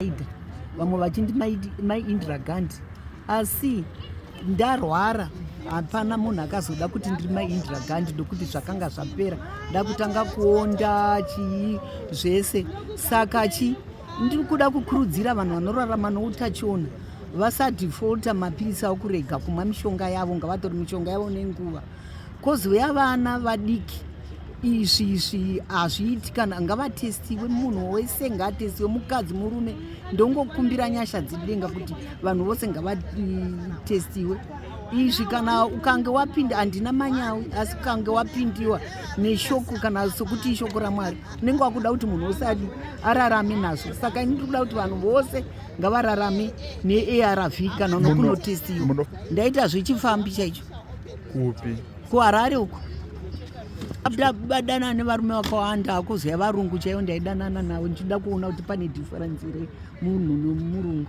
maida vamwe vachindi mai indira gandi asi ndarwara hapana munhu akazoda kuti ndiri mai indira gandi ndokuti zvakanga zvapera ndakutanga kuonda chii zvese saka chi ndiri kuda kukurudzira vanhu vanorarama noutachiona vasadefolta mapirisi awo kurega kumwa mishonga yavo ngavatori mishonga yavo nenguva Kozi weya vana vadiki izvi izvi hazviiti kana ngavatestiwe munhu wese ngaatestiwe mukadzi murume ndongokumbira nyasha dzidenga kuti vanhu vose ngavatestiwe izvi kana ukange wapinda handina manyawi asi ukange wapindiwa neshoko kana sokuti ishoko ramwari unenge wakuda kuti munhu wose adi ararame nazvo saka ini ndiri kuda kuti vanhu vose ngavararame nearv kana unokunotestiwa ndaita zvechifambi chaicho kupi kuharare uko abdabadana nevarume vakawanda akuziva varungu chaivo ndaidanana navo ndichida kuona kuti pane difference iri munhu nomurungu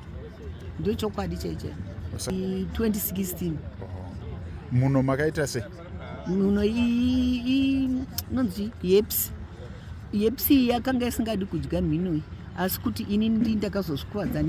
ndo chokwadi chaichai 2016 muno makaita se muno inonzi yeps yepsi yakanga isingadi kudya mhino iyi asi kuti ini ndi ndakazozvikuvadza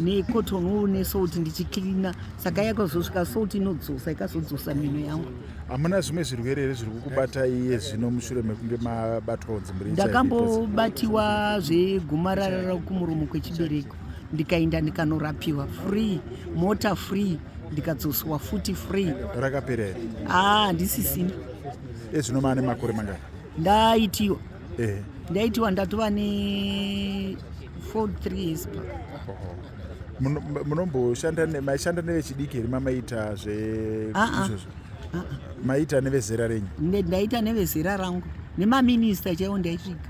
necotton wo nesalt ndichiclina saka yakazosvika salt inodzosa ikazodzosa mhino yangu hamuna zvimwe zvirwere here zviri kukubata iye zvino mushure mekunge mabatwawo dzimbiri ndakambobatiwa zvegomarara rakumuromo kwechibereko ndikaenda ndikanorapiwa free mota free ndikadzoswa futi free rakapera here ah, handisisina ezvino maane makore mangani ndaitiwa eh. ndaitiwa ndatova ne 43 years back munomboshanda maishanda nevechidiki here mamaita zve ah, ah. izvozvo ah, maita nevezera renyu ndaita nevezera rangu nemaminista chaiwo ndaisvika